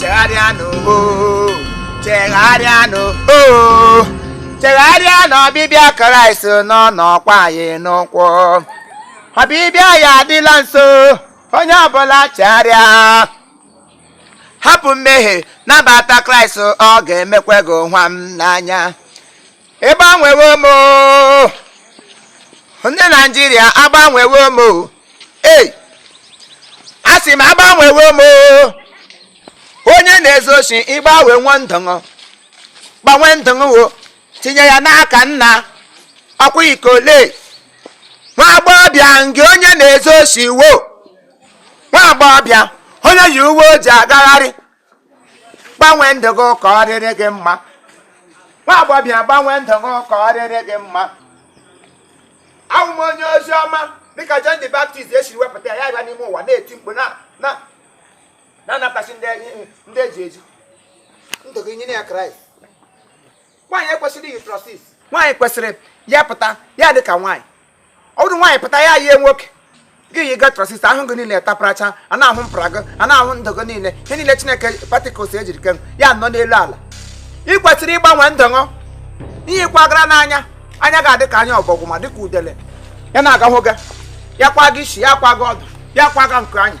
chegharịanụ o chegharịanụ o chegharịa na ọbịbịa kraịst na ọ nọkwa anyị n'ụkwụ ọbịbịa ya adịla nso onye ọbụla chegharịa hapụ mmehie nabata kraịst ọ ga-emekwa gị wam n'anya ịgbanwewo m oo. ndị naijiria agbanwewo m oo. ei a sị m agbanwewo m oo. onye na-ezu oshi ị gbanwewo ndụ ṅụ gbanwe ndụ ṅụ wo tinye ya n'aka nna ọkwa ikole nwa agbọghọbịa nke onye na-ezu oshi wo nwa agbọghọbịa onye yi uwe ojii agagharị gbanwee ndụ gị ka ọ dịrị gị mma nwa agbọbịa gbanwee ndụ gị ka ọ dịrị gị mma abụ m onye ozi ọma dịka John the Baptist esiri wepụta ya ya n'ime ụwa na-eti mkpu na-anapụtasị ndị eji eji ndụ gị nyere ya Kraịst nwaanyị ekwesịrị iyi trọsis nwaanyị kwesịrị ya pụta ya dị ka nwaanyị ọ bụdo nwaanyị pụta ya yie nwoke gị yiga trọsis ahụ gị niile taparacha a na-ahụ mpara gị a na-ahụ ndụ gị niile ihe niile chineke particles e jiri kee ya nọ n'elu ala ị kwesịrị ịgbanwe ndụ ṅụ ihe kwagara n'anya anya ga-adị ka anya ọbọgwụ ma dịka udele ya na-agahụ gị ya kwaga isi ya kwaga ọdụ ya kwaga nke anya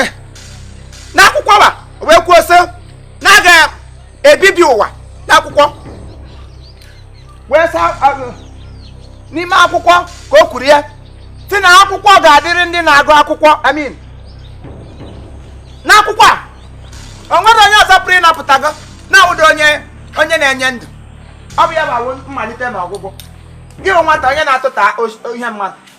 e, n'akwụkwọ wa wee kwuo sị na a ga-ebibi ụwa n'akwụkwọ wee saa n'ime akwụkwọ ka o kwuru ya sị na akwụkwọ ga-adịrị ndị na-agụ akwụkwọ amin n'akwụkwọ a o nwedo onye ọzọ pụrụ ịnapụta gị na-awụdo onye na-enye ndụ ọ bụ ya bụ mmalite na ọgwụgwụ gị nwata onye na-atụta ihe mmadụ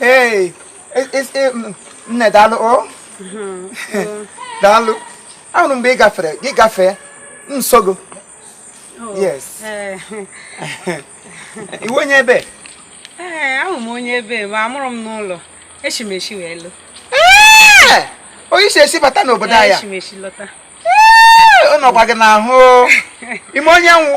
ee nne daalụ o daalụ ahụrụ m mgbe ị gafere gị gafee nsogo oh, yes eh. ị wụ onye ebee eh, awụ m onye ebe ma a mụrụ m n'ụlọ echi m echi wee lụ eh! onye isi esi bata n'obodo anya ọ nọkwa gị n'ahụ ị ma onye m wụ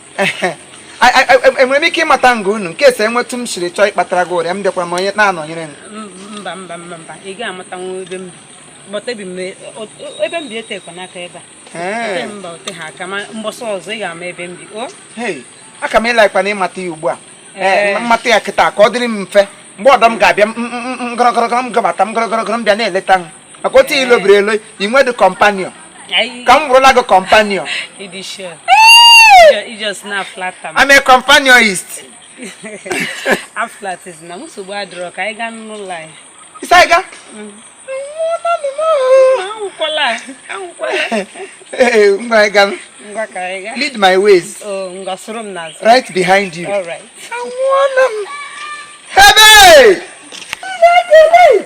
enwere m ike ịmata nga unu in case enwetụ m siri chọọ ịkpatara gị ụrịa m bịakwara m onye na-anọnyere m mba mba mba mba ị gaghị amata nwa ebe m bi ebe m bi etekwa n'aka ebe a mba o teha aka ma mbọsị ọzọ ị ga-ama ebe m bi o aka m ịla ịkpa na ịmata ya ugbu a m mata ya kịta ka ọ dịrị m mfe mgbe ọdọ m ga-abịa m gọrọgọrọgọrọ m gabata m gọrọgọrọgọrọ m bịa na-eleta m maka otu ilo biri elo i nwedị companion ka m bụrụla gị companion I'm a companionist. Aflat ị sị na nsogbu adịrọ ka anyị gaa n'ụlọ anyị. Ị sị anyị gaa? Mm. Anwụkwala anwụkwala. Ee ngwa anyị gaa. Ngwa ka anyị gaa. Lead my ways. Oh ngwa soro m n'azụ. Right behind you. All right. Anwụọla m. Ebe! Ebe!